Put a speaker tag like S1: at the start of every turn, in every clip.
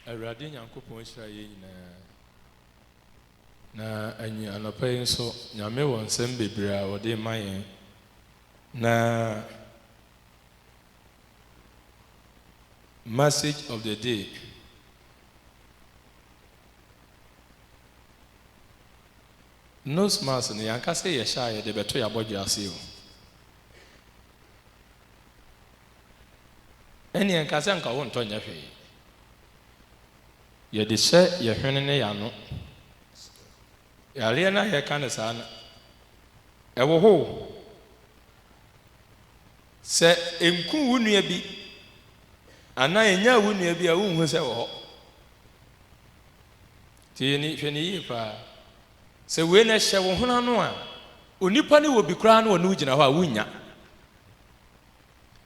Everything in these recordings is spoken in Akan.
S1: Awurade Nyankopɔn nhyira yɛn nyinaa. Na anyi anɔpa yi nso, Nyame wɔ nsɛm bebree a ɔde rema yɛn. Na message of the day, nose mask no yɛanka sɛ yɛhyɛ a yɛde bɛto yɛn abɔdwe ase o. Ɛnneɛ nka sɛ anka wontɔ nyɛ hwee. Yɛde hyɛ yɛn hwene ne yɛn ano. Yareɛ no a yɛka no saa no, ɛwɔ hɔ o. Sɛ ɛnku wo nua bi anaa ɛnyaa wo nua bi a, wonhu sɛ ɛwɔ hɔ. Nti yɛ ni, hwɛ no yie paa. Sɛ wei na ɛhyɛ wo hwene ano a, onipa no wɔ bi koraa na ɔne wo gyina hɔ a, wonnya.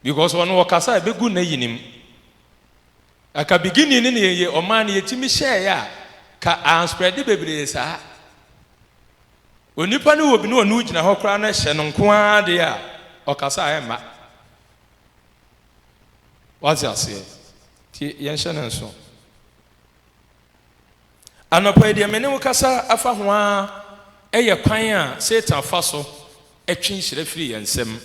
S1: because ɔno ɔkasa ɛbɛgu nayi nim aka beginning ne ne yɛ ɔmaa no yɛtumi hyɛɛ a ka ansprɛde bebree saa onipa no wɔ bi ne ɔne wogyina hɔ koraa no hyɛ no nko ara deɛ a ɔkasa a ɛmma wate aseɛ nti yɛnhyɛ no nso Anɔpa yi, deɛ me ne wo kasa afa ho ara yɛ kwan a Satan fa so twe nhyira firi yɛn nsam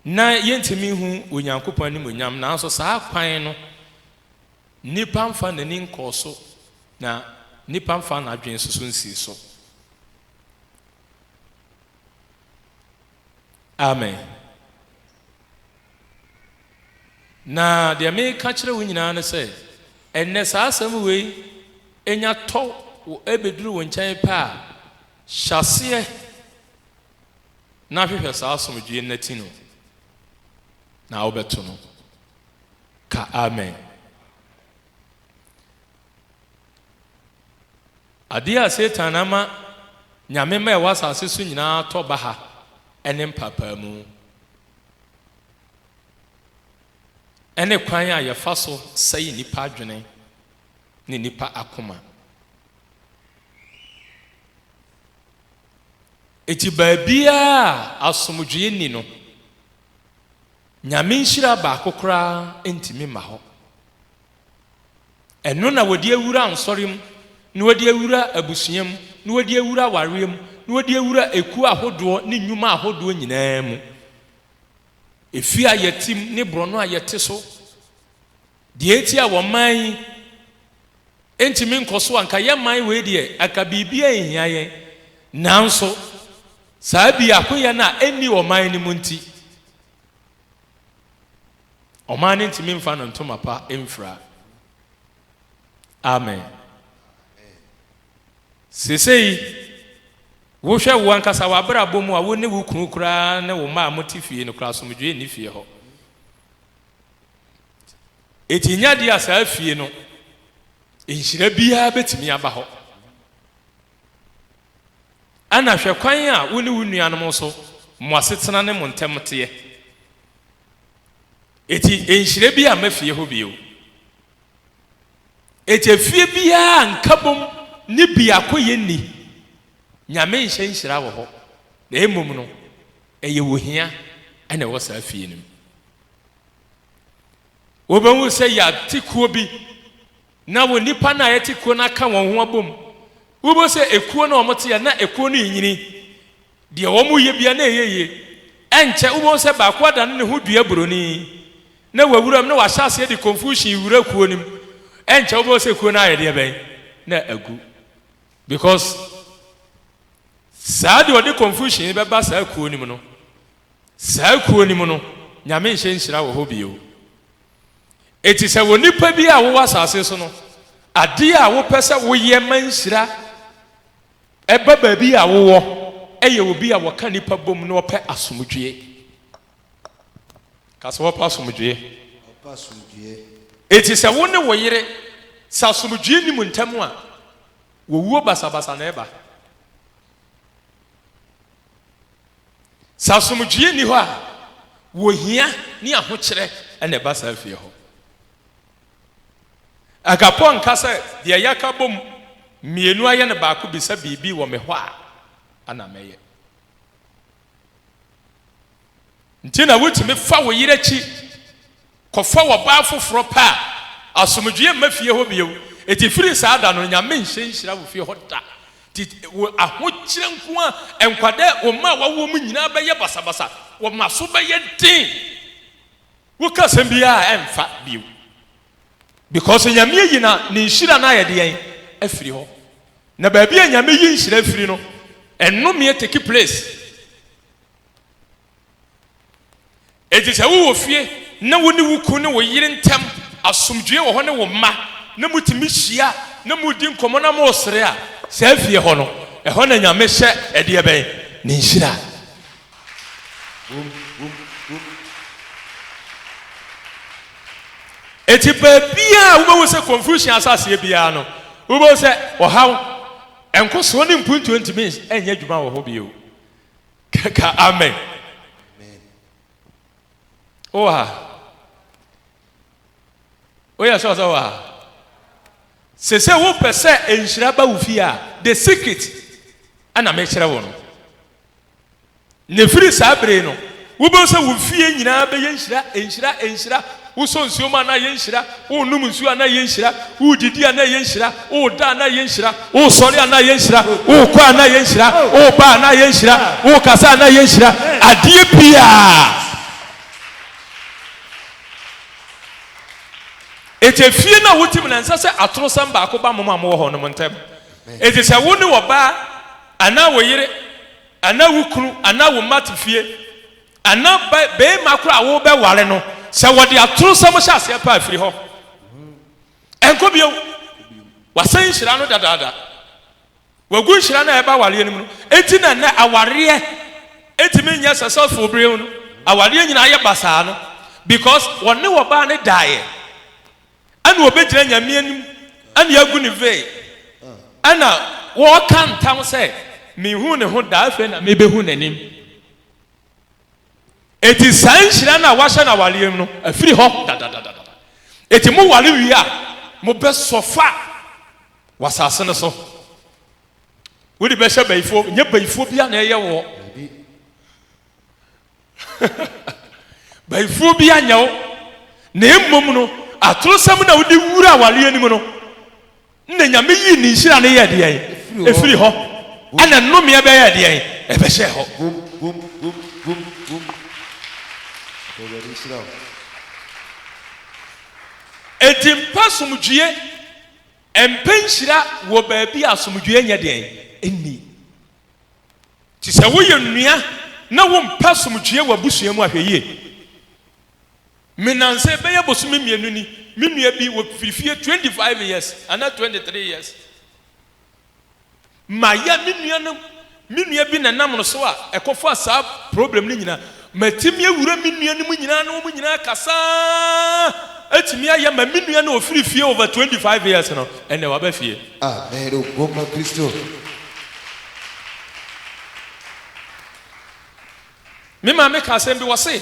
S1: na yɛntumi nhu Onyankopɔn animuonyam. Nanso saa kwan no, nnipa mfa n'ani nkɔɔ so, na nnipa mfa n'adwene nso so nsii so. Amen. Na deɛ meka kyerɛ wo nyinaa ne sɛ, ɛnnɛ saa asɛm wei nya tɔ wo ɛbɛduru wo nkyɛn pɛ a, hyɛ aseɛ na hwehwɛ saa asomdwoeɛ no na ti no, na wobɛto no. Ka amen. Ade a Satan ama nyame mma a ɛwɔ asase so nyinaa atɔ baha ne mpaapaemu, ɛne kwan a yɛfa so sɛe nnipa adwene ne nnipa akoma. Enti baabiara a asomdwoe nni no, Nyame nhyira baako koraa ntumi mma hɔ. Ɛno na wɔde awura nsɔre mu, na wɔde awura abusua mu, na wɔde awura awareɛ mu, na wɔde awura ekuo ahodoɔ ne nnwuma ahodoɔ nyinaa mu. Efie a yɛte mu ne borɔno a yɛte so. Deɛ nti a wɔn man yi ntumi nkɔ so a, nka yɛn man wei deɛ, anka biribiara nhia yɛn. Nanso, saa biakoyɛ no a ɛnni ɔman no mu nti, ɔman no ntumi mfa no ntoma pa mfira. Amen. Seesei, wohwɛ wo ankasa w'abrabɔ mu a, wo ne wo kunu koraa ne wo mma a mote fie no koraa, asomdwoeɛ nni fie hɔ. Enti nya di a saa fie no nhyira biara betumi aba hɔ. Ɛna hwɛ kwan a wo ne wo nuanom nso mo asetena ne mo ntam teɛ. Enti nhyira bi amma fie hɔ bio. Enti efie biara nkabom ne biakoyɛ nni. Nyame nhyɛ nhyira wɔ hɔ, na mmom no ɛyɛ ohia na ɛwɔ saa fie no mu. Wobɛhu sɛ yɛate kuo bi na wɔ nnipa no a yɛte kuo no aka wɔn ho abom. Wobɛhu sɛ ekuo no a wɔteɛ na ekuo no renyini. Deɛ wɔyɛ bia na ɛyɛ yie. Ɛnkyɛ wobɛhu sɛ baako adane ne ho dua buroni na wawura mu na wahyɛ aseɛ de confusion wura kuo no mu. Ɛnkyɛ wobɛhu sɛ kuo no ayɛ deɛ bɛn na agu. Because saa deɛ ɔde confusion bɛba saa kuo no mu no Saa kuo no mu no, Nyame nhyɛ nhyira wɔ hɔ bio. Enti sɛ onipa bi a wowɔ asase so no, adeɛ a wopɛ sɛ woyɛ ma nhyira ba baabi a wowɔ yɛ obi a wɔka nnipa bom na ɔpɛ asomdwoeɛ. Ka sɛ ɔpɛ asomdwoeɛ. Ɔpɛ asomdwoeɛ. Enti sɛ wo ne wo yere, sɛ asomdwoeɛ nni mo ntam a, wɔwuo basabasa na ɛba. Sɛ asomdwoeɛ nni hɔ a, wɔhia ne ahokyerɛ na ɛba saa fie hɔ. Agapɔ nka sɛ deɛ yɛaka bom mmienu ayɛ no baako bisa biribi wɔ me hɔ a, ana mɛyɛ. nti na wutumi fa wo yere akyi kɔfa ɔbaa foforo pɛ a, asomdwoe mma fie hɔ bio. Enti firi saa da no, Nyame nhyɛ nhyira wo fie hɔ da. Enti wo ahokyerɛ nko ara nkwa dɛ wo mma a woawo wɔn nyinaa bɛyɛ basabasa, wɔn aso bɛyɛ den, woka asɛm biara a ɛmfa bio, because Nyame ayi na ne nhyira no ayɛ deɛn? afiri hɔ. Na baabi a Nyame yi nhyira firi no, nnome take place. Enti sɛ wowɔ fie na wo ne wo kunu ne wo yere ntam asomdwoe wɔ hɔ ne wo mma, na mutumi hyia na mudi nkɔmmɔ na mosere a, saa fie hɔ no, ɛhɔ na Nyame hyɛ ɛdeɛ bɛn? Ne nhyira wom. Enti baabiara a wobɛhu sɛ confusion asɔ aseɛ biara no, wobɛhu sɛ ɔhaw, nkɔsoɔ ne mpuntuo ntumi nyɛ adwuma wɔ hɔ bio. Ka amen. Wowɔ ha? Woyɛ sɛ ɔsɛ wɔ ha? Sɛ sɛ wopɛ sɛ nhyira ba wo fie a, the secret ɛna mekyerɛ wo no. Ne firi saa bere no, wobɛhu sɛ wo fie nyinaa bɛyɛ nhyira, nhyira, nhyira. Wosɔ nsuo mu a, na ɛyɛ nhyira, wonom nsuo a, na ɛyɛ nhyira, wodidi a, na ɛyɛ nhyira, woda a, na ɛyɛ nhyira, wosɔre a, na ɛyɛ nhyira, wokɔ a, na ɛyɛ nhyira, woba a, na ɛyɛ nhyira, wokasa a, na ɛyɛ nhyira, adeɛ biara. Enti efie no a wote mu no, ɛnsɛ sɛ atorosɛm baako ba mo a mowɔ hɔ no mo ntam. Enti sɛ wo ne w'ɔbaa anaa wo yere anaa wo kunu anaa wo mma te fie Ɛna barima koro a worebɛware no, sɛ wɔde atorosɛm hyɛ aseɛ paa, firi hɔ. Ɛnkɔ bio. Wɔasɛn nhyira no dadaada. Wɔagu nhyira no a ɛba awareɛ no mu no. Enti na ɛnɛ awareɛ ɛtumi nyɛ successful bere no. Awareɛ nyinaa yɛ basaa no because wɔne ɔbaa no daeɛ. Ɛna ɔbɛgyina Nyame anim ɛna agu ne veil ɛna wɔreka ntam sɛ, Menhuu ne ho da, afei na mebɛhu n'anim. Enti saa nhyira no a wɔahyɛ no awareɛ mu no afiri hɔ dadadadada. Enti moware wie a, mobɛsɔ fa wɔ asase no so. Wode bɛhyɛ bayifoɔ, nyɛ bayifoɔ biara na ɛyɛ woɔ. bayifoɔ bi anyɛ wo, na mmom no atorosɛm na wode wura awareɛ no mu no. Na Nyame yii ne nhyira no yɛɛ deɛn? Ɛfiri hɔ. Ɛna nnomeɛ bɛyɛɛ deɛn? Ɛbɛhyɛɛ hɔ. Vum, vum, vum, vum, vum. Ɔpɛ Awurade nhyira o. Enti mpɛ asomdwoeɛ, mpɛ nhyira wɔ baabi a asomdwoeɛ nyɛ deɛn? Nni. Nti sɛ woyɛ nua na wompɛ asomdwoeɛ wɔ abusua mu a, hwɛ yie. Me nnansa bɛyɛ bosome mmienu ni me nua bi wɔ firi fie twenty five years anaa twenty three years ma yɛ me nua no me nua bi na nam no so a ɛkɔ fa saa problem no nyinaa ma ti mi awura me nua no mu nyinaa na wɔn nyinaa kasaa. Ɛtumi ayɛ ma me nua na ɔfiri fie over 25 years no ɛnɛ waba fie. Amen o go ma Kristo. Me maame ka asɛm bi wɔse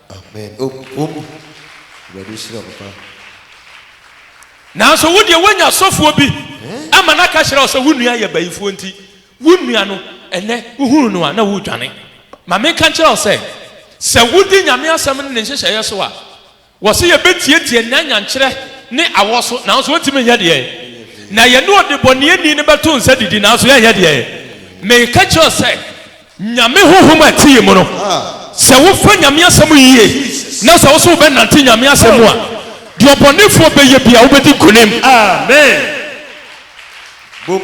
S1: Amen o o o awurade nhyira wo papa. Nanso wo deɛ woanya asɔfoɔ bi ama no aka kyerɛ wo sɛ wo nua yɛ bayifoɔ nti wo nua no ɛnnɛ wohunu no a na woredwane. Ma menka nkyerɛ wo sɛ, sɛ wodi Nyame asɛm ne ne nhyehyɛeɛ so a, wɔse yɛbɛtiatia nna nyankyerɛ ne awɔ so nanso wɔntumi nyɛ deɛ na yɛne ɔdebɔneyɛni no bɛto nsa didi nanso yɛnyɛ deɛ. Meka kyerɛ wo sɛ. Nyame honhom a ɛte yɛn mu no, sɛ wofa Nyame asɛm yie na sɛ wose wobɛnante Nyame asɛm mu a, deɛ ɔbɔnefoɔ bɛyɛ biara wobɛdi nkonim. Amen! Boom!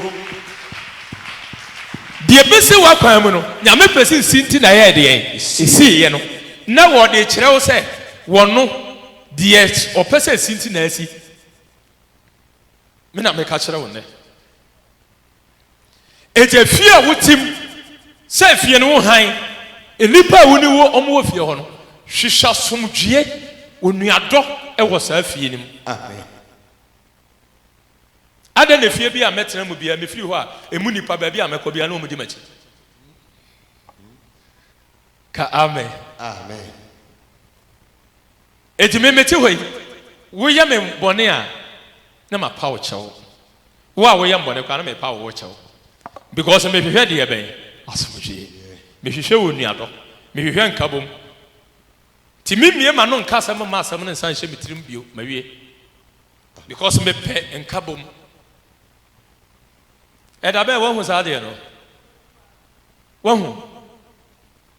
S1: Deɛ ɛbɛsi wo akwan mu no, Nyame pɛ sɛ ɛsi nti na ɛyɛɛ deɛn? Ɛsiiɛ no. Na wɔde rekyerɛ wo sɛ Ɔno, deɛ Ɔpɛ sɛ ɛsi nti na asi. Me na meka kyerɛ wo nnɛ. Enti afie a wotim sɛ afie no wo hann, nnipa a wo ne wɔn wɔ fie hɔ no, hwehwɛ asomdwoeɛ, onuadɔ wɔ saa afie no mu. Amen. Adɛn na efie bi a mɛtena mu biara, mefiri hɔ a, emu nnipa baabi a mɛkɔ biara na wɔn di m'akyi? Ka amen. Amen. Enti me mete hɔ yi, woyɛ me bɔne a, na mapa wo kyɛw. Wo a woyɛ me bɔne koraa, na mepa wo wo kyɛw. Because mehwehwɛ deɛ bɛn? Asomdwoeɛ. Mehwehwɛ onuadɔ. Mehwehwɛ nkabom. Nti memmue m'ano nka asɛm mma asɛm no nsan nhyɛ me tirim bio. Mawie. Because mepɛ nkabom. Ɛda bɛn? Woahu saa adeɛ no? Woahu?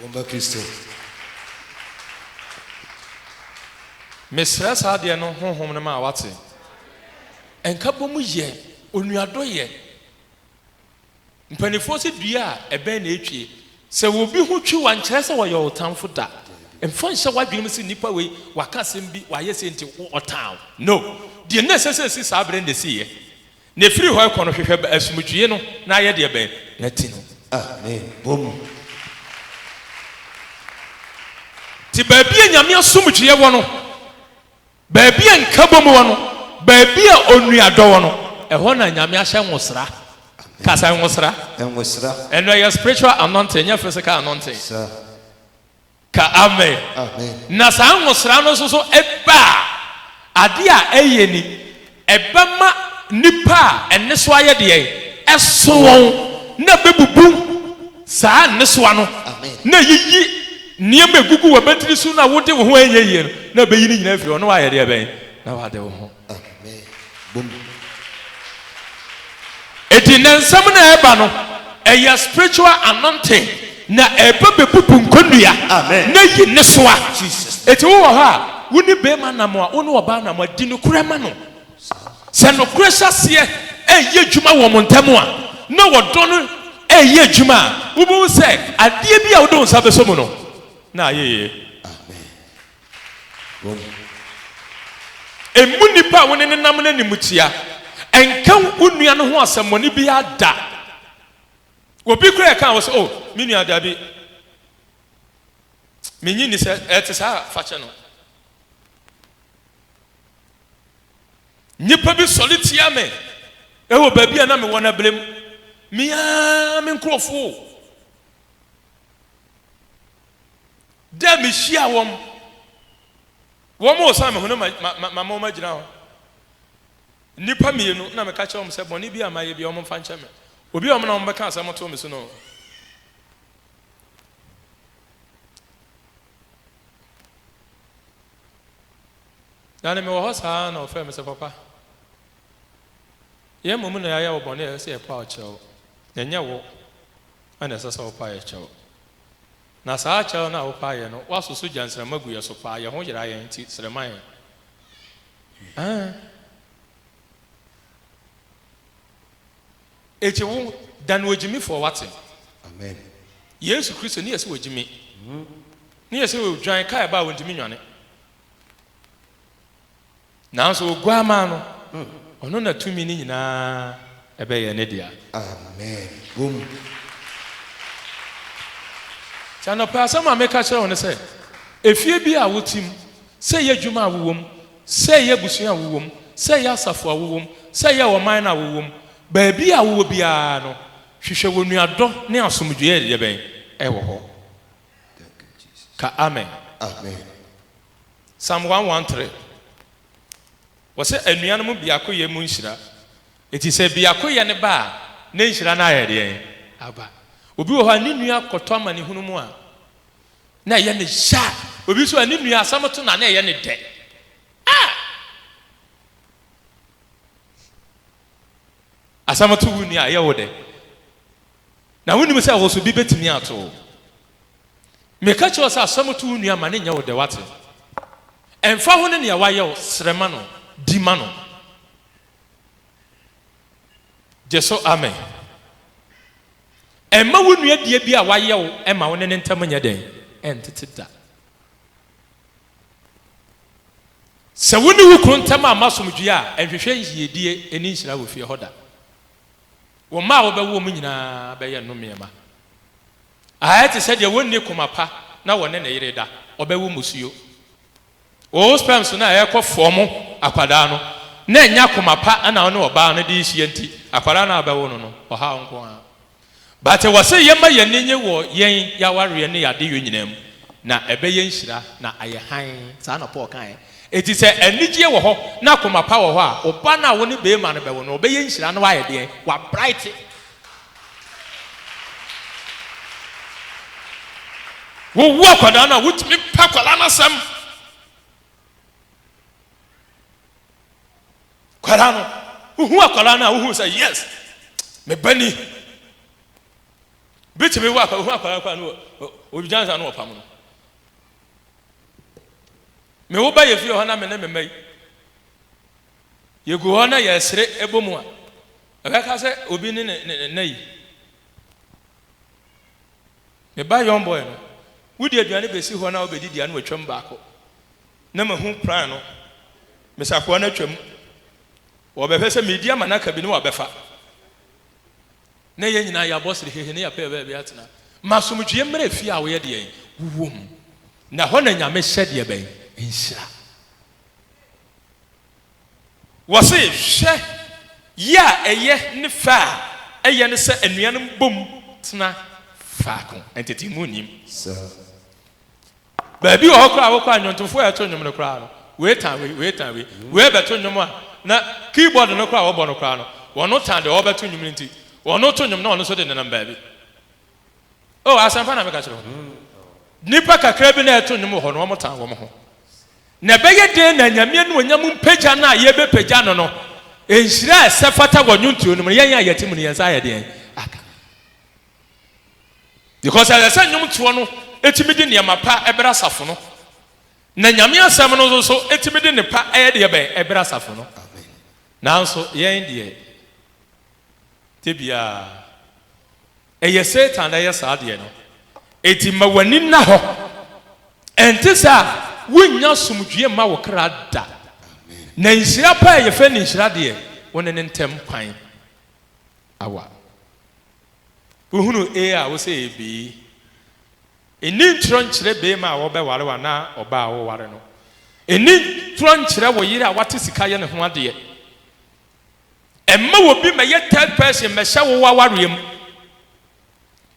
S1: Bomba Kristo. Mesrɛ saa adeɛ no Honhom no ma wate. Nkabom yɛ, onuadɔ yɛ. Mpaninfoɔ se dua a ɛbɛn na ɛtwie. Sɛ obi ho twi wo a nkyerɛ sɛ ɔyɛ wo tamfo da. Mfa nhyɛ w'adwene mu se nipa wei waka asɛm bi, wayɛ sei nti ɔtaa wo. No. Deɛ na ɛsɛ sɛ ɛsi saa berɛ no na ɛsiiɛ. Na ɛfiri hɔ rekɔ no, hwehwɛ bɛ asomdwoeɛ no, na yɛ deɛ bɛ na ti no. Amen. Bɔ mu. Te baabi a Nyame asomdwoeɛ wɔ no, baabi a nkabom wɔ no, baabi a onuadɔ wɔ no, ɛhɔ na Nyame ahyɛ nwosra. Ka sɛ, nwosra. Nwosra. Ɛno ɛyɛ spiritual anointing, ɛnyɛ physical anointing. Sir. Ka amen na saa nhosra no nso so ba a, ade a ɛyɛ ni, ɛbɛma nnipa a nnesoa yɛ deɛn? Ɛso wɔn, na ɛbɛbubu saa nnesoa no, na ayiyi nneɛma a ɛgugu w'abatiri so na wode wo ho anyɛ yie no, na ɛbɛyi ne nyinaa afiri hɔ, na woayɛ deɛ bɛn? Na woade wo ho. Enti nnɛ nsɛm no a ɛreba no, ɛyɛ spiritual anointing na ɛreba bɛbubu nkɔnnua na ayi nnesoa. Enti wo wɔ hɔ a, wo ne barima nam a, wo ne ɔbaa nam a, di nokorɛ ma no. Sɛ nokorɛ hyɛ aseɛ reyɛ adwuma wɔ mo ntam a, na ɔdɔ no reyɛ adwuma a, wobɛhu sɛ adeɛ bi a wode wo nsa bɛsɔ mu no, na ayɛ yie. Wɔn. Mmu nnipa a wo ne no nam no animtia. Nka wo nua no ho asɛmmɔne biara da. Obi koraa reka ho sɛ, Oh, me nua, dabi. Minnye nni sɛ ɛte saa, fa kyɛ no. Nnipa bi sɔre tia me wɔ baabi a na mewɔ no abirem. Me ara me nkurɔfo. Dɛ mihyia wɔn, wɔn a osian me ho no mama wɔagyina hɔ, nnipa mmienu, nna meka kyerɛ wɔn sɛ, Bɔne biara a mayɛ biara, wɔmfa nkyɛ me. Obi a wɔn na wɔbɛka asɛm ato me so no. Na ne mewɔ hɔ saa na ɔfrɛ me sɛ, Papa, yɛn mmom na yɛayɛ wo bɔne a ɛsɛ sɛ yɛpaw kyɛ wo, na ɛnyɛ wo na ɛsɛ sɛ wopae kyɛ wo. Na saa kyɛw no a wopaa yɛn no, woasoso gya nsramma gu yɛn so paa, yɛn ho yera yɛn, enti srɛ ma yɛn. Ɛɛ. Egye wo da no ogyimifo a wate no. Amen. Yesu Kristo ne yɛ sɛ ogyimi. Ne yɛ sɛ odwan, car ɛba a ontumi nnwane. Nanso Oguammaa no, Ɔno na tumi no nyinaa bɛyɛ Ne dea. Amen. Wom. Nti anɔpa yi asɛm a meka kyerɛ wo ne sɛ, efie biara a wote mu, sɛ ɛyɛ adwuma a wowɔ mu, sɛ ɛyɛ abusua a wowɔ mu, sɛ ɛyɛ asafo a wowɔ mu, sɛ ɛyɛ ɔman no a wowɔ mu, baabi a wowɔ biara no, hwehwɛ onuadɔ ne asomdwoeɛ a ɛyɛ dɛn? Ɛwɔ hɔ. Ka Amen. Amen. Psalm one one three, Wɔsɛ anuanom biakoyɛ mu nhyira. Enti sɛ biakoyɛ no ba a, na nhyira no ayɛ deɛn? Aba. Obi wɔ hɔ a ne nua kɔtɔ amanehunu mu a, na ɛyɛ no ya. Obi nso a ne nua asɛm to no a, na ɛyɛ no dɛ. Ah! Asɛm to wo nua a, ɛyɛ wo dɛ. Na wonim sɛ wo so bi bɛtumi ato wo. Meka kyerɛ wo sɛ asɛm to wo nua ma no nyɛ wo dɛ, woate? Ɛmfa ho ne nea wayɛ wo, srɛ ma no, di ma no. Gye so amen. Mma wo nua bia bi a wayɛ wo ma wo ne ne ntam nyɛ dɛn? Ɛntete da. Sɛ wo ne wo kunu ntam amma asomdwoe a, nhwehwɛ yiedie ne nhyira wɔ fie hɔ da. Wo mma a wobɛwowom nyinaa bɛyɛ nnomee mma. Ayɛ te sɛ deɛ wɔnni koma pa na wɔne ne yere da. Ɔbɛwo mmusuo. Wo sperms no a ɛrekɔ fɔɔmo akwadaa no, na ɛnnya koma pa na wo ne ɔbaa no de rehyia nti, akwadaa no a wobɛwo no no, ɔhaw nko ara. But ɛwɔ sɛ yɛma yɛn ani nnye wɔ yɛn yɛn awareɛ ne yɛn adeyɔ nyinaa mu, na ɛbɛyɛ nhyira na ayɛ hann. Saa na Paul kaeɛ. Enti sɛ anigyeɛ wɔ hɔ na koma pa wɔ hɔ a, wo ba no a wo ne beema no bɛwo no, ɔbɛyɛ nhyira na wayɛ deɛn? Wabrite. Wowo akwadaa no a, wotumi pɛ akwadaa no asɛm. Akwadaa no, wohu akwadaa no a, wohu sɛ yes, me ba ni. Bitumi wo akwadaa, wohu akwadaa no kora no, ɔdwansa no wɔpam no. Me wo ba yɛfie hɔ na me ne me mma yi yɛgu hɔ na yɛsere ɛbɔ mu a ɛbɛka sɛ obi ne ne ne nna yi me ba young boy no wodi aduane bɛsi hɔ na wobɛdi di ano atwam baako na mahu plan no mesakoa no atwam wɔbɛhwɛ sɛ medi ama no aka bi ne wɔabɛfa na yɛn nyinaa yɛabɔ serehehe na yɛapɛ baabi atena. Ma asomdwoeɛ mmra efie a woyɛ deɛn? Wowɔ mu. Na ɛhɔ na Nyame hyɛ deɛbɛn? Nhyira. Wɔse, hwɛ yɛ a ɛyɛ ne fɛ a ɛyɛ ne sɛ anuanom bom tena faako. Ntetee mu nnim. Sɛ. Baabi wɔ hɔ koraa a wokɔ a nnwontofoɔ a ɛto nnwom no koraa no, wei tan wei, wei tan wei, wei rebɛto nnwom a na keyboard no koraa a wɔbɔ no koraa no, wɔn tan deɛ ɔrebɛto nnwom no nti, wɔn reto nnwom na wɔn nso de nenam baabi. Oh, asɛmpa na meka kyerɛ wo no. Nnipa kakra bi na ɛreto nnwom wɔ hɔ no, wɔn tan wɔn ho. Na ɛbɛyɛ dɛn na Nyame anuonyam mpagya no a yɛbɛpagya no no, nhyira a ɛsɛ fata wɔ nnwontoɔ no mu no, yɛn a yɛte mu no, yɛn nsa ayɛ deɛn aka? Because ɛsɛ sɛ nnwomtoɔ no tumi de nneɛma pa brɛ asafo no, na Nyame asɛm no nso so tumi de nnepa yɛ deɛ bɛn ɛbrɛ asafo no. Nanso yɛn deɛ dabiaa ɛyɛ Satan na ɛyɛ saa deɛ no. Enti ma w'ani nna hɔ, ɛnte saa a wonnya asomdwie mma wo kra da. Na nhyira pa a yɛfrɛ no nhyira deɛ, wo ne no ntam kwan awa. Wohunu A a wose yɛ B. Nni ntorɔ nkyerɛ beema a wɔbɛware wo anaa ɔbaa a woware no. Nni ntorɔ nkyerɛ wo yere a wate sika yɛ ne ho adeɛ. Mma obi mmɛyɛ third person mmɛhyɛ wo w'awareɛ mu.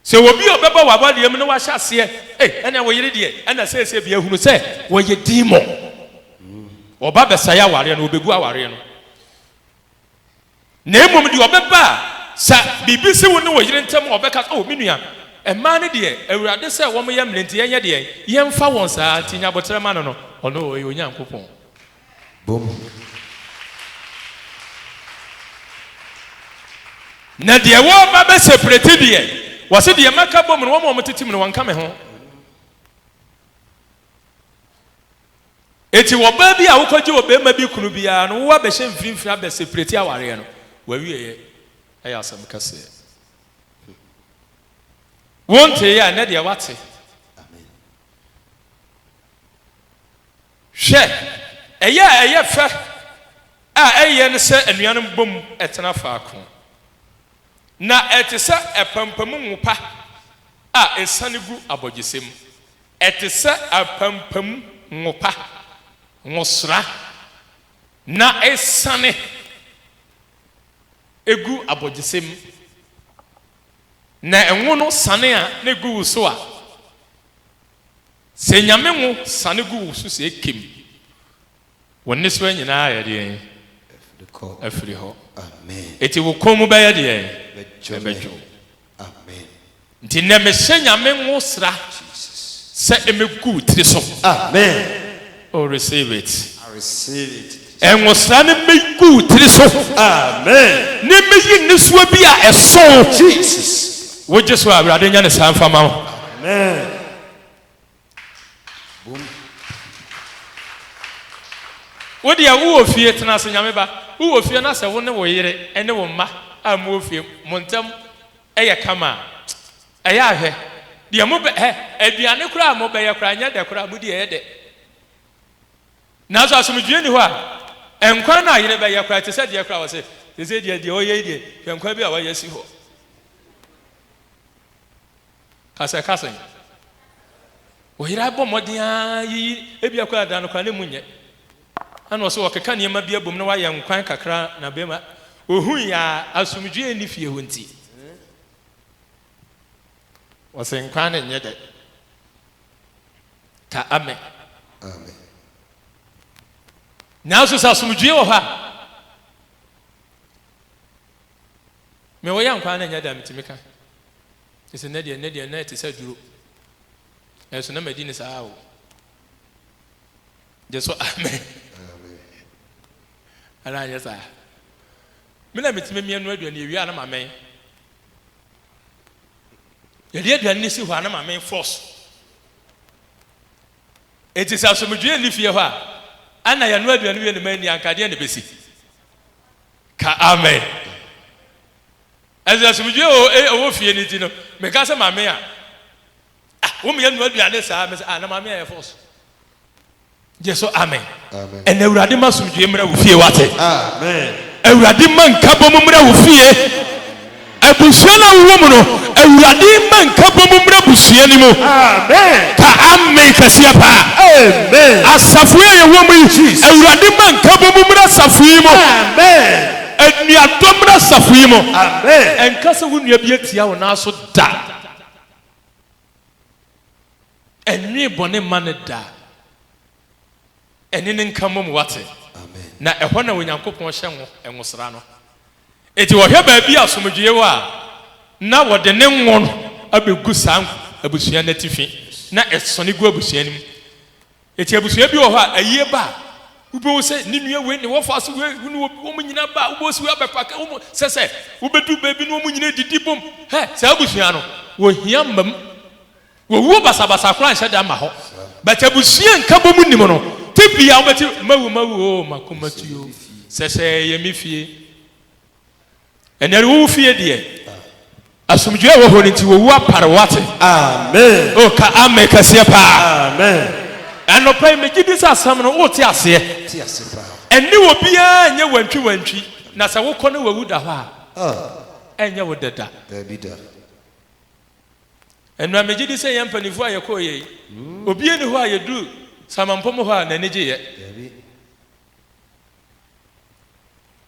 S1: Sɛ obi a ɔbɛba w'awareɛ mu na wahyɛ aseɛ ei ɛnneɛ wo yere deɛ ɛna seesei bia hunu sɛ ɔyɛ demon. Ɔba bɛsɛe awareɛ no, ɔbɛgu awareɛ no. na mmom deɛ ɔbɛba a, sɛ biribi si wo ne wo yere ntam a, ɔbɛka sɛ, O, me nua, mmaa no deɛ, Awurade sɛ wɔyɛ mmrɛ nti, yɛnyɛ deɛn? Yɛmfa wɔn saa, nti nya aboterɛ ma no no, ɔno ɔyɛ Onyankopɔn. Bom. Na deɛ wɔreba abɛseprɛte deɛ, wɔse deɛ maka bom no, wɔn a wɔtete mu no, wɔnka me ho. Enti ɔbaa bi a wokɔgye ɔbarima bi kunu biara no, wo abɛhyɛ mfinimfini abɛ seprɛti awareɛ no, w'awieɛ yɛ asɛm kɛseɛ. Wonteeɛ a, nnɛ deɛ wate. Hwɛ, ɛyɛ a ɛyɛ fɛ a ɛyɛ ne sɛ anuanom bom tena faako, na ɛte sɛ apampamu ngo pa a ɛsiane gu abɔgyesɛ mu. Ɛte sɛ apampam ngo pa, ngosra, na asiane gu abogyesɛ mu, na ngo no sane a na egu wo so a, sɛ Nyame ngo sane gu wo so sɛ ekem Wo nnesoa nyinaa ayɛ deɛn? Afiri hɔ. Enti wo kɔn mu bɛyɛ deɛn? Ɛbɛdwo. Nti nnɛ mehyɛ Nyame nwosra sɛ ɛmɛgu wo tiri so. Oh receive it. Nwosra no mmɛgu wo tiri so. Na ɛmɛyi nnesoa bi a ɛso. Wogye so a, Awurade nyɛ ne saa mfa ma wo. Boom. Wo deɛ wo wɔ fie tena ase nyame ba wo wɔ fie na sɛ wo ne wo yere ne wo mma a mo wɔ fie mo ntɛm yɛ kama a ɛyɛ a hwɛ deɛ mo bɛ hɛ aduane koraa a mo bɛyɛ koraa nyɛ dɛ koraa mo di ɛyɛ dɛ nanso asomdwie nni hɔ a nkwan no a yere bɛyɛ koraa te sɛ deɛ koraa wɔ sɛ sɛsɛ deɛ deɛ ɔyɛ yi deɛ hwɛ nkwan bi a wayɛ si hɔ Ka sɛ, ka sɛ. Ɔyera bɔ mmɔden ara yiyi, ebia koraa da no koraa ne mu nyɛ. Ɛna ɔsɛ ɔkeka nneɛma bi abom na wayɛ nkwan kakra na bɛma. Ɔhui a asomdwoeɛ nni fie hɔ nti, ɔsɛ nkwan no nyɛ dɛ. Ka Amen. Amen. Nanso sɛ asomdwoeɛ wɔ hɔ a, me wɔyɛ nkwan no nyɛ dɛ, metumi ka. Ɛsɛ nnɛ deɛ nnɛ deɛ nnɛ ɛte sɛ aduro nanso na madi ne saa o gye so amen ana anyɛ saa me na metumi mmea no aduane yɛwie a na mamɛn yɛde aduane no si hɔ a na mamɛn fɔs enti sɛ asomdwoeɛ nni fie hɔ a ana yɛno aduane wie no ma anni ankadeɛ na ɛbɛsi ka amen Ɛsɛ asomdwie wɔ hɔ ɛwɔ fie no nti no meka sɛ mame a ah wo meyɛ nua aduane saa mese ah na mame ayɛ force gye so amen ɛna awurade ma asomdwie mmra wo fie wate awurade ma nka bɔ mu mmra wo fie abusua no a wowɔ mu no awurade ma nka bɔ mu mmra busua no mu ka amen kɛseɛ paa asafo yɛ yɛwɔ mu yi awurade ma nka bɔ mu mmra asafo yi mu Anuadɔm no asafo yi mu. Amen. Ɛnka sɛ wo nua bi atia wo nan so da. Ɛnwe bɔne mma no da. Ɛne no nka mmom, woate? Amen. Na ɛhɔ na Onyankopɔn hyɛ ngo, ngosra no. Enti ɔhwɛ baabi a asomdwoeɛ wɔ a, na wɔde ne ngo no abɛgu saa abusua no atifi, na ɛsɔne gu abusua no mu. Enti abusua bi wɔ hɔ a, ayie ba a, wobɛhu sɛ ne nua wei ne wɔfa so wei, wo ne wɔbi, wɔn nyinaa ba a, wobɛhu sɛ wei abɛfa ka wɔn. Sɛ sɛ wobɛdu baabi na wɔn nyinaa didi bom. Hɛ, saa abusua no, wɔhia mmam. Wɔwuo basabasa koraa nhyɛ da mma hɔ. But abusua nkabom nnim no, tebea wobɛte mawu mawu oo, m'akomatuo, sɛ sɛ ɛyɛ me fie. Ɛnɛ no wo fie deɛ asomdwoe a ɛwɔ hɔ no nti wɔwu apare wo ate. Amen. O ka amen kɛseɛ paa. Amen. Anɔpa yi megye di sɛ asɛm no wote aseɛ. Te ase paa. Ɛne wɔ biara nyɛ wantwi wantwi na sɛ wokɔ ne wawu da hɔ a ah. ɛnyɛ wo dada. Daabi da. Ɛnura megye di sɛ yɛn mpanimfoɔ a yɛkɔɔ yɛ yi hmm. obi ani hɔ a yɛduru samampɔm hɔ a n'ani gye yɛ.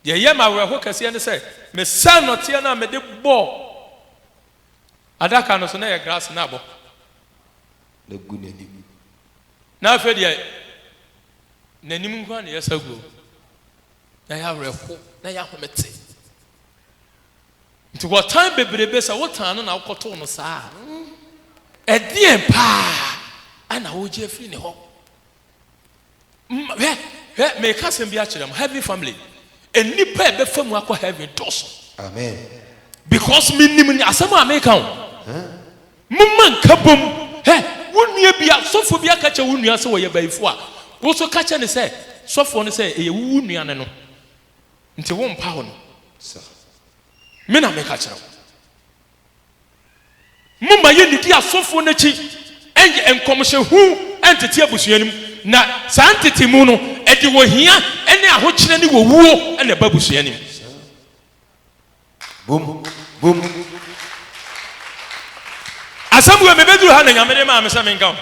S1: Deɛ ɛyɛ me awerɛho kɛseɛ ne sɛ, mesian nɔteɛ no a mede bɔɔ adaka no so no yɛ grass na abɔ. Na gu n'anim. Na afei deɛ n'anim nko ara na yɛsa guo. Na yɛ awerɛho, na yɛ ahomete. Nti wɔtan bebrebe sɛ wotan no na wokɔtoo no saa a, ɛdeɛn paa na wogye afiri ne hɔ? Hwɛ, hwɛ, mereka asɛm bi akyerɛ mo, heaven family, nnipa a ɛbɛfa mu akɔ heaven dɔɔso. Amen. Because menim ne asɛm a mereka o. Momma nka bom. Hɛ, wo nua bi, sɔfoɔ bi aka kyerɛ wo nua sɛ wɔyɛ bayifoɔ a, wo nso ka kyerɛ ne sɛ sɔfoɔ no sɛ ɛyɛ wo nua ne no. Nti wompa hɔ no. Me na meka kyerɛ wo. Momma yennidi asɔfoɔ no akyi nyɛ nkɔmhyɛ hunu ntete abusua no mu, na saa ntetemu no, ɛde ohia ne ahokyerɛ ne owuo na ɛba abusua no mu. Boom! Boom! Asɛm wei mebɛduru ha na Nyame de maa me sɛ menka ho.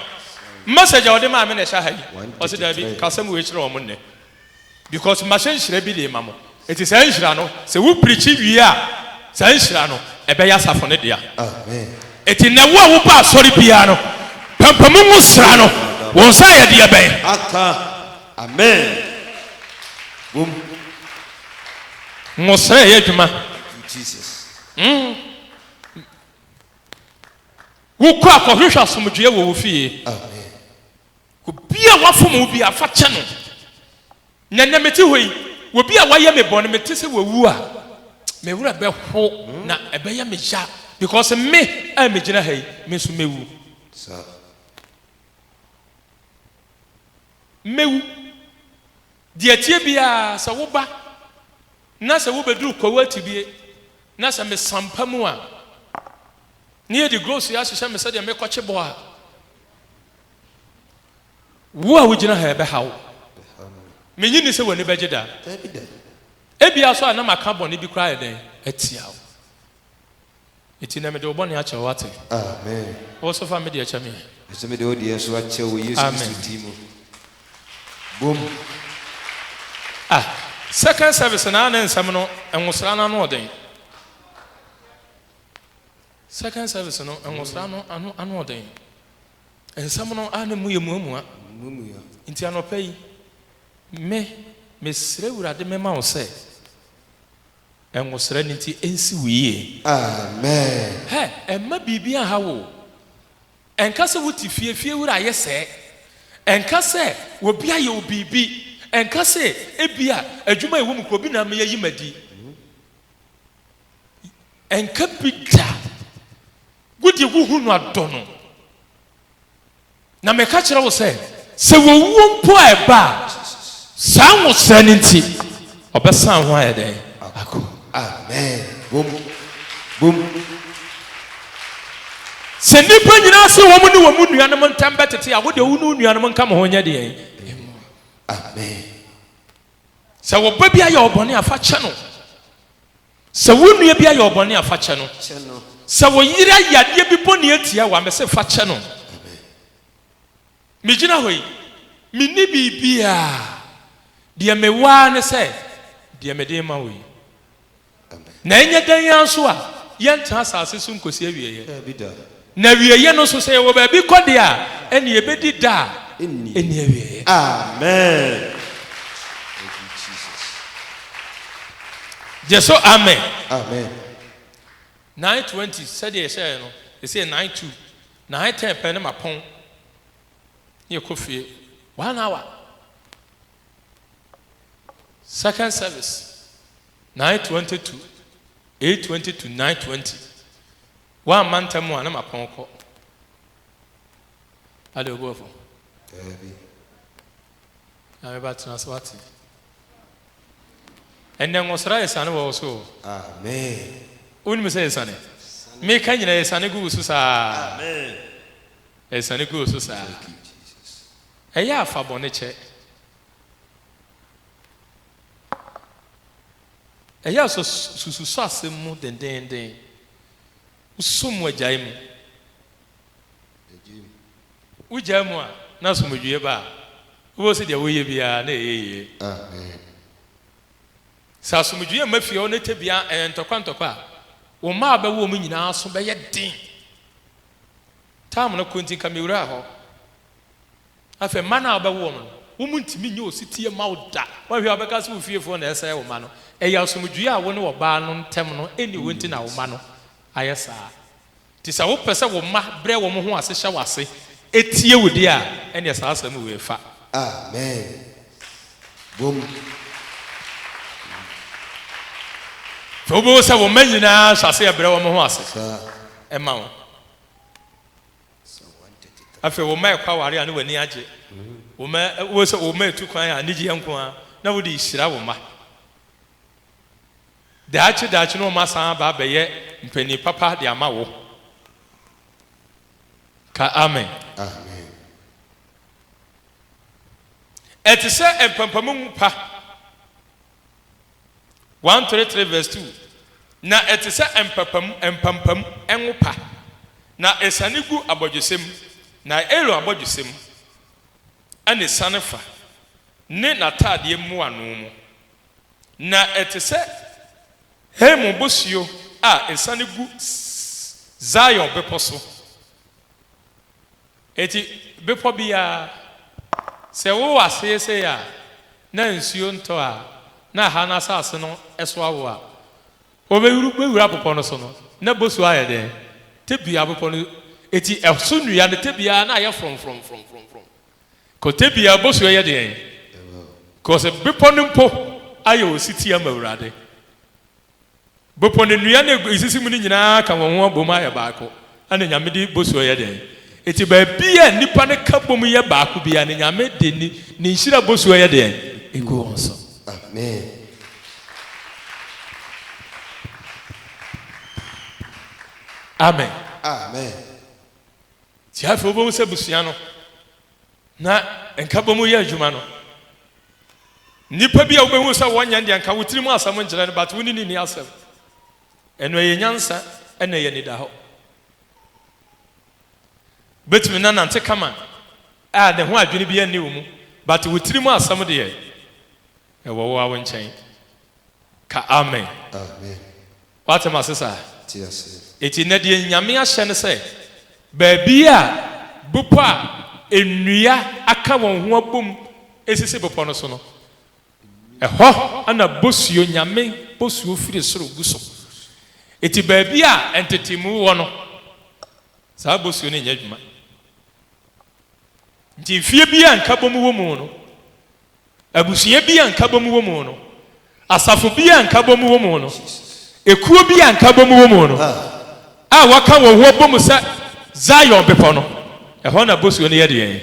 S1: Message a ɔde maa me na ɛhyɛ ha yi. Ɔse daabi, ka asɛm wei kyerɛ wɔn nnɛ. because mahyɛ nhyira bi de rema mo, enti saa nhyira no, sɛ wo preachi wie a, saa nhyira no, ɛbɛyɛ asafo no dea. Enti nnɛ, wo a woba asɔre biara no, pampamu nwosra no, wo nsa ayɛ deɛ bɛn? Aka. Amen. Wom. Nwosra ɛyɛ adwuma. Thank you, Jesus. Mm. Wokɔ a, kɔhwehwɛ asomdwoeɛ wɔ wo fie. Amen. Obi a wafom wo biara, fa kyɛ no. Na nnɛ mete hɔ yi, obi a wayɛ me bɔne, mete sɛ wawu a, me werɛ bɛho na ɛbɛyɛ me ya because me a megyina ha yi, me nso mɛwu. Mɛwu. Deɛ ɛteɛ biara, sɛ woba na sɛ wobɛduru Kwawu Atibie na sɛ mesampa mu a, na yɛde grocery ahyehyɛ me sɛdeɛ mekɔkye bɔ a, Wo a wugyina ha yi, ɛbɛha wo? Minnye nni sɛ w'ani bɛgye da. Ebia nso a na maka bɔne bi koraa ayɛ dɛn atia wo. Enti nnɛ mede wo bɔne akyɛ wo, woate? Wo nso fa me deɛ kyɛ me. Mese mede wo deɛ nso akyɛ wo wɔ Yesu Kristo din mu. Boom. Ah, second service na ne nsɛm no nwosra no ano ɔden. Second service no nwosra no ano ano ɔden. Nsɛm no ara ne mu yɛ muamua. Muamua. Nti anɔpa yi, me, mesrɛ Awurade mema wo sɛ, ngosra no nti ɛnsi wo yie. Amen. Hɛ, ɛmma biribi anha wo o. Ɛnka sɛ wote fie, fie wura ayɛ sɛɛ. Ɛnka sɛ obi ayɛ wo biribi. Ɛnka sɛ ebia adwuma a ɛwɔ mu koraa obi na ama yɛayi me adi. Ɛnka bi da. Wo deɛ wohu no adɔ no. Na meka kyerɛ wo sɛ. Sɛ owuo mpo a ɛba a, saa nwosrɛ no nti, ɔbɛsan ho ayɛ dɛn? Akɔ. Amen. Bom. Bom. Sɛ nnipa nyinaa se wɔn ne wɔn nuanom ntam bɛtete a, wo deɛ wo ne wo nuanom nka mo ho nyɛ deɛn? Mmɔ. Amen. Sɛ wo ba bi ayɛ wo bɔne a, fa kyɛ no. Sɛ wo nua bi ayɛ wo bɔne a, fa kyɛ no. Sɛ wo yere ayɛ adeɛ bi bɔne atia wo a, mese fa kyɛ no. Megyina hɔ yi, menni biribiara. Deɛ mewɔ ara ne sɛ, deɛ mede rema wo yi. Na ɛnyɛ dɛn ara nso a, yɛntena asase so nkɔsi awieeɛ. Na awieeɛ no nso, sɛ yɛwɔ baabi kɔ deɛ a, ɛnneɛ yɛbɛdi da a ɛnni awieeɛ. Amen! Thank you, Jesus. Gye so amen. Amen. Nine twenty sɛdeɛ yɛhyɛeɛ no, ɛsɛ nine two. Nine ten pɛ ne mapɔn ne yɛkɔ fie. One hour. Second service, nine twenty to eight twenty to nine twenty. Woamma ntɛm a na mapɔn kɔ. Ade obu afɔ. Daabi. Na meba tena ase wate. Ɛnɛ ngosra esiane wɔ wo so o. Amen. Wonim sɛ esiane. Meka nyina esiane gu wo so saa. Amen. Esiane gu wo so saa. Thank you Jesus. Ɛyɛ a fa bɔne kyɛ. Ɛyɛ a sɛ sususo asɛm mu dendeenden. Wosusuw mu a gyae mu. Wogyae mu a, na asomdwoe ba a wobɛhu sɛ deɛ woreyɛ biara na ɛyɛ yie. Sɛ asomdwoe mma fie hɔ na ɛtɛ biara ɛyɛ ntɔkwa ntɔkwa a, wo mma a wobɛwo wɔn nyinaa aso bɛyɛ den. Time no kɔ nti nka mewuraa hɔ. Afei mma no a wobɛwo wɔn no, wɔn ntumi nyɛ osetie mma wo da. Woahwɛ a wobɛka sɛ wo fiefoɔ na ɛresɛe wo mma no? Ɛyɛ asomdwoeɛ a wo ne ɔbaa no ntam no nni hɔ nti na wo mma no ayɛ saa. Enti sɛ wopɛ sɛ wo mma brɛ wɔn ho ase hyɛ wo ase tie wo deɛ a, ɛnneɛ saa asɛm wei fa. Amen. Bom. Afei wobɛhu sɛ wo mma nyinaa hyɛ aseɛ brɛ wɔn ho ase ma wo. Afei wo mma ɛkɔ aware a na w'ani agye. Wo mma wo sɛ wo mma etu kwan a anigyeɛ nko ara na wode rehyira wo mma. Daakye daakye no wɔasan aba abɛyɛ mpanin papa de ama wo. Ka amen. Amen. Ɛte sɛ mpampamu pa. One three three vs two Na ɛte sɛ mpapamu, mpampam, ngo pa, na esiane gu abɔdwesɛ mu, na Aaron abɔdwesɛ mu, ɛna esiane fa, ne n'ataadeɛ mmoano mu, na ɛte sɛ Hermon bosuo a esiane gu Zion bepɔ so. Enti bepɔ biara, sɛ wowɔ aseɛ sei a na nsuo ntɔ a na ɛha no asase no so awo a, wobɛwura bepɔ no so no, na bosuo ayɛ dɛn? Tebea bepɔ no, enti ɛso nnua no tebea na ayɛ frɔmfrɔmfrɔmfrɔmfrɔm, kɔ tebea bosuo yɛ deɛn? Kɔ sɛ bepɔ no mpo ayɛ ɔsetie ama Awurade. Bepɔ ne nnua na esisi mu no nyinaa ka wɔn ho abom ayɛ baako, ɛna Nyame de bosuo yɛ dɛn? Enti baabi a nnipa no ka bom yɛ baako biara no, Nyame de Ne nhyira bosuo yɛ deɛn? Egu wɔn so. Amen. Amen. Amen. Nti afei wobɛhu sɛ abusua no. Na nkabɔmu yɛ adwuma no. Nnipa bi a wobɛhu sɛ wɔnyɛ no deɛ nka wo tirim asɛm nkyerɛ no but wo ne no nni asɛm. Ɛno ɛyɛ nyansa ɛna ɛyɛ anidahɔ. Wobɛtumi na nante kama a ne ho adwene biara nni wo mu but wo tirim asɛm deɛ ɛwɔ wo ara wo nkyɛn. Ka Amen. Amen. Wate m'ase saa? Te aseɛ. Enti nnɛ deɛ Nyame ahyɛ ne sɛ, baabi a bepɔ a nnua aka wɔn ho abom sisi bepɔ no so no, ɛhɔ na bosuo, Nyame bosuo firi soro gu so. Enti baabi a ntetemu wɔ no, saa bosuo no nyɛ adwuma. Enti mfeɛ biara a nkabom wɔ mu no, abusua bi a nkabom wɔ mu no, asafo bi a nkabom wɔ mu no, ekuo bi a nkabom wɔ mu no, a wɔaka wɔn ho abɔ mu sɛ Zion Bepɔ no, ɛhɔ na bosuo no yɛ deɛn?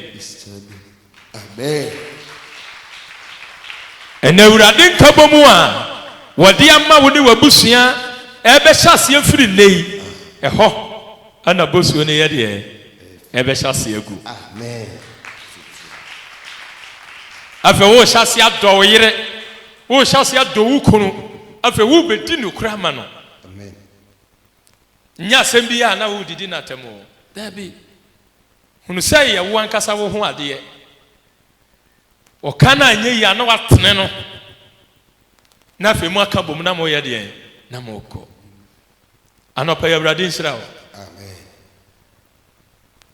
S1: Ɛnna Awurade nkabom a wɔde ama wo ne w'abusua ɛrebɛhyɛ aseɛ firi nnɛ yi, ɛhɔ. Ɛna bosuo no yɛ deɛ ɛbɛhyɛ aseɛ agu. Afei worehyɛ aseɛ adɔ wo yere, worehyɛ aseɛ adɔ wo kunu, afei worebɛdi nokorɛ ama no. Nyɛ asɛm bi a na woredidi no atɛm o, daabi. Hunu sɛ yɛ wo ankasa wo ho adeɛ. Ɔka no anyɛ yie a na woatene no, na afei moaka bom na moreyɛ deɛn? Na morekɔ. Anɔpa yi Awurade nhyira wo.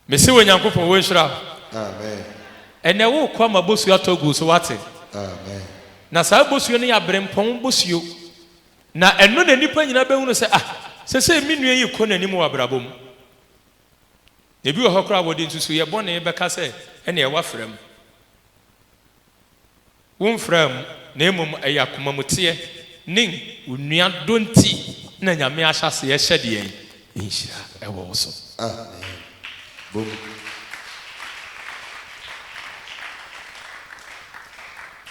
S1: Mese wo Nyankopɔn wo nhyira wo. Ɛnɛ wokɔ ama bosuo atɔ gu so wate. Na saa bosuo no yɛ aberempɔn bosuo. Na ɛno na nnipa nyinaa bɛhunu sɛ ah sɛsɛ me nua yi kɔ n'anim wɔ abrabɔ mu. Na ebi wɔ hɔ koraa wɔde nsusuiɛ bɔne bɛka sɛ ɛnna ɛwɔ afra mu. Womfraa mu, na mmom ɛyɛ akomamuteɛ ne onua dɔ nti na Nyame ahyɛaseɛ hyɛ deɛn? Nhyira wɔ wo so. Amen. Bɔ mu.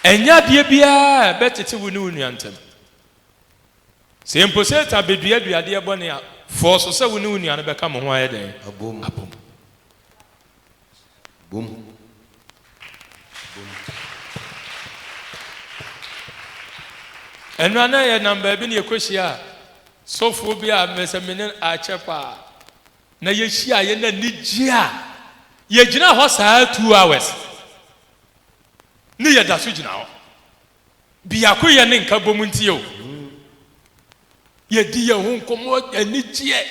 S1: Ɛnyɛ adeɛ biara a ɛbɛtete wo ne wo nua ntam. Sɛ mpo Satan bɛdua aduadeɛ bɔne a, fɔɔ so sɛ wo ne wo nua no bɛka mo ho ayɛ dɛn? Abom. Boom. Boom. Ɛnora na yɛnam baabi na yɛkɔhyia sɔfoɔ bi a mɛsɛ mene akyɛ paa. Na yɛhyia yɛ na nigye a yɛgyina hɔ saa two hours ne yɛda so gyina hɔ. Biako yɛ ne nka bom nti o. Yɛdi yɛn ho nkɔmɔ anigyeɛ.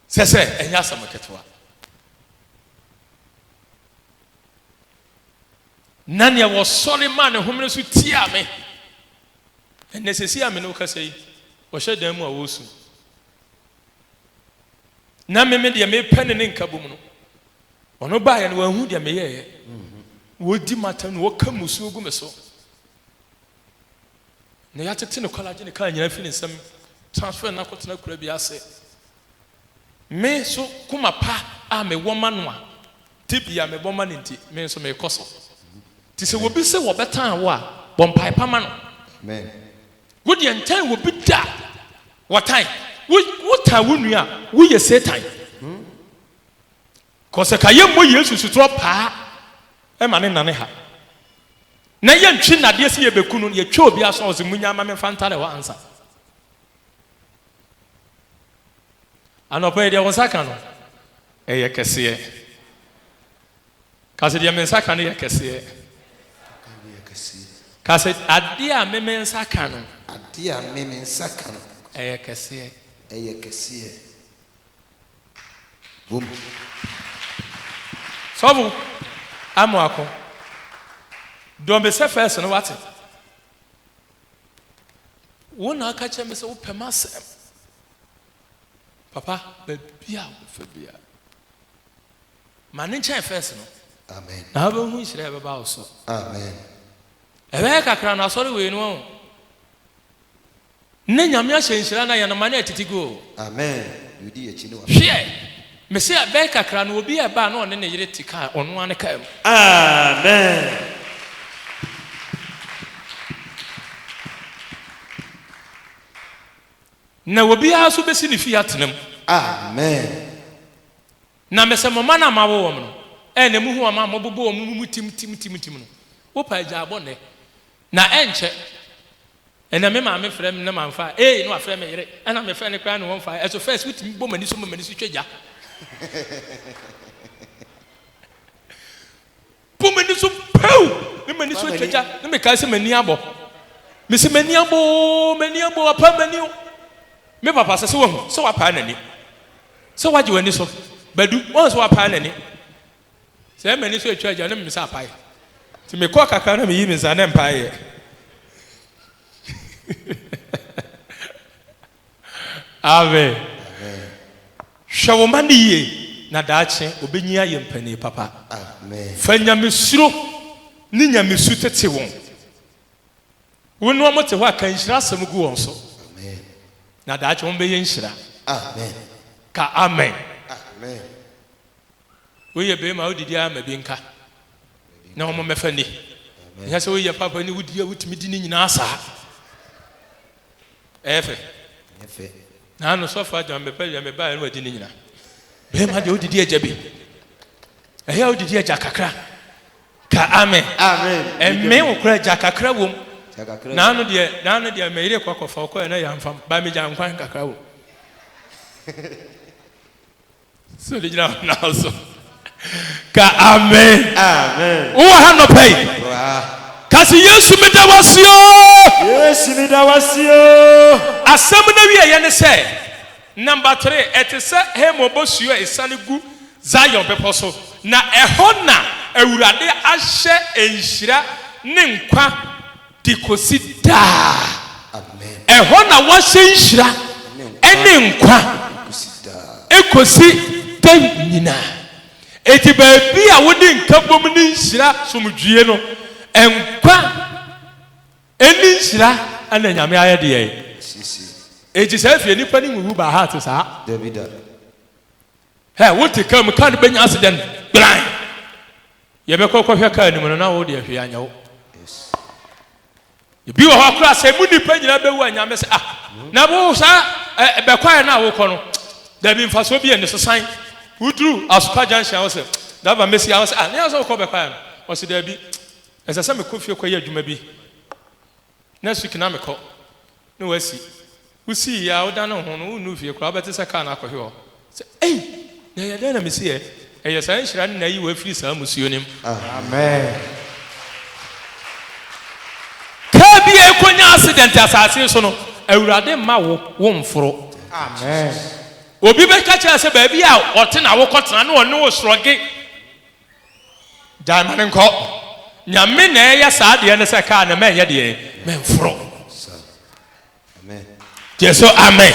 S1: sɛ sɛ ɛnyɛ asɛm ketewa. na nea wɔsɔre maa ne homene so tiaa me ɛnɛ sɛsi a me ne wokasa yi wɔhyɛ dan mu a wɔresu na meme deɛ mepɛ ne ne nka bom no ɔno baeɛ no wɔahu deɛ meyɛeɛ wɔdi mata no wɔka musuo gu me so na yɛatete no kɔla agye ne kar nyinaa afi ne nsam transfer no akɔtena akuraa bi ase. Me nso koma pa a mewɔ ma no a tebea mebɔ ma no nti, me nso mekɔ so. Nti sɛ obi sɛ wɔbɛtan wo a, bɔ mpae pa ma no. Wo deɛ ntan obi da, wɔtan wo. Wotan wo nua a, woyɛ Satan. Kɔ sɛ ka yɛmmɔ Yesu sotorɔ paa ma ne nane ha na yɛntwe nadeɛ sɛ yɛbɛku no, yɛtwa obi asɔ ɔse munya ma me mfa ntare hɔ ansa. Anɔpa yi deɛ wo nsa ka no ɛyɛ kɛseɛ. Ka sɛ deɛ me nsa ka no yɛ kɛseɛ. Ka sɛ adeɛ a me me nsa ka no ɛyɛ kɛseɛ. wɔ mu. Sɔfo Amoako, dɔ me sɛ first no wate? Wo na aka kyerɛ me sɛ wopɛ m'asɛm. Papa, baabi a wobɛfa bia, ma ne nkyɛn first no. Amen. Na wobɛhu nhyira a ɛbɛba wo so. Amen. Ɛbɛyɛ kakra na asɔre wei no ho. Nnɛ Nyame ahyɛ nhyira na yɛn amanne retete gu o. Hweɛ! Mese ɛbɛn kakra no obi reba a na ɔne ne yere te kaa ɔno ara ne kaa mu. Amen! Na obi ara nso bɛsi ne fie atena mu. Amen! Na mese mo mma no a moawo wɔn no, ɛnnɛ mohu wɔn a mobobɔ wɔn mumu tim tim tim tim no, wopa agyaabɔ nnɛ, na ɛnkyɛ. Ɛnɛ me maame frɛ me na mamfa a, eii na wafrɛ me yere, ɛna mefrɛ no koraa na ɔmfae, ɛso first wotumi bɔ m'ani so ma m'ani so twa gya? Bɔ m'ani so pɛw na m'ani so atwa gya na mekae sɛ m'ani abɔ. Mese m'ani abɔ oo, m'ani abɔ, wapaa m'ani o. Me papa sɛ sɛ wahu sɛ wapaa n'ani, sɛ wagye w'ani so, Badu, wahu sɛ wapaa n'ani, Sɛ m'ani so atwa gya na memmisa apae. Nti mekɔ kakra na meyi me nsa na mpae yɛ. Amen. Hwɛ wo mma no yie na daakye wɔbɛnyin ayɛ mpanin papa. Fa nyamesuro ne nyamesu tete wɔn. Wo ne wɔn te hɔ a, ka nhyira asɛm gu wɔn so. Na daakye wɔbɛyɛ nhyira. Ka amen. Wei yɛ bɛɛma a wodidi ara ma bi nka na wɔn mɛfa ni. Ɛnyɛ sɛ woyɛ papa ni wodidi a wotumi di ne nyinaa saa. Ɛyɛ fɛ. Na ano sɔfo adwa mepɛ deɛ mebaeɛ no wadi ne nyinaa. Bɛɛma deɛ wodidi agya bi. Ɛyɛ a wodidi agya kakra. Ka amen. Ɛmee wo koraa agya kakra wom. Na ano deɛ na ano deɛ meyere kɔ akɔfa ɔkɔɛ na yɛamfam. Ba megya nkwan kakra wom. So ne gyina hɔ na so. Ka amen. Amen. Wowɔ ha nɔpɛ yi. Wɔ ha. Ka se Yesu meda wase o. Yesu meda wase o. Asɛm no awieɛ ne sɛ. Number three, ɛte sɛ Hermon bosuo a ɛsiane gu Zion bepɔ so, na ɛhɔ na Awurade ahyɛ nhyira ne nkwa. de kosi daa. Ɛhɔ na wɔahyɛ nhyira ne nkwa kosi daa nyinaa. Enti baabi a wode nkabom ne nhyira, somdwie no, nkwa ne nhyira na Nyame ayɛ de yɛe. Enti saa fie, nnipa no nwuwu by heart saa. Hɛ! Wo te car mu, car no bɛnya accident gbaann! Yɛ bɛkɔ kɔ hwɛ car no mu no, na wo deɛ hwee anyɛ wo. Ebi wɔ hɔ koraa sɛ emu nipa nyinaa bɛwu a Nyame sɛ ah, na wo saa ɛ, eh, bɛkwaɛ no a wokɔ no, dabi mfasoɔ bi ɛne so san. Woduru Asuka junction a wo sɛ, driver mɛsi a wo sɛ ah, ne yɛ sɛ wokɔ bɛkwaɛ no, ɔsɛ dabi, ɛsɛ sɛ mekɔ fie kɔ yɛ adwuma bi. Na Sukey na mekɔ na wasi. Wo sii yɛ a wo dane wo ho no wo nnuu fie koraa wo bɛte sɛ car no akɔhwe hɔ sɛ ei na ɛyɛ dɛn na me si ɛ ɛyɛ saa nhyira ne na yi wo afiri saa musuo no mu. Car bi a ɛkɔ nya accident asase so no awurade mma wo wo mforo. Obi bɛ ka kyerɛ sɛ baabi a ɔte na wo kɔ tena na ɔne wo srɔge. Gyae ma no nkɔ. Nyame na ɛyɛ saa deɛ no sɛ kaa no mɛnyɛ deɛ mɛmforo. Gye so amen.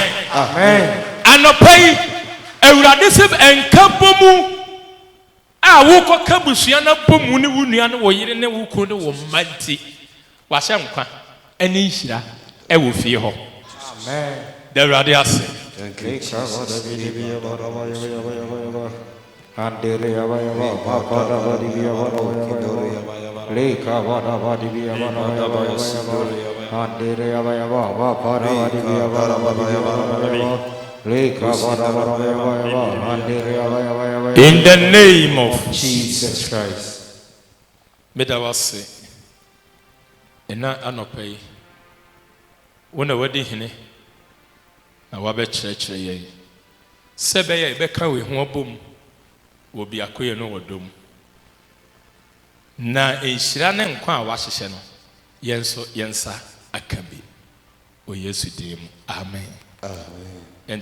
S1: Anɔpa yi awurade sɛ nka bɔ mu a wokɔ ka busua no abɔ mu ne wo nua ne wo yere ne wo kunu ne wo mma nti. W'ahyɛ nkwa ɛne nhyira ɛwɔ fie hɔ. Da Awurade ase. Thank you Jesus In the name of Jesus Christ. Meda wo ase nnɛ anɔpa yi. Wo na woadi hene na woabɛkyerɛkyerɛ yɛn sɛ ɛbɛyɛ a yɛbɛka wei ho abom wɔ biakoyɛ ne ɔdɔ mu. Na nhyira ne nkwa a woahyehyɛ no, yɛn nso yɛn nsa aka bi. Wɔ Yesu din mu, amen. Amen.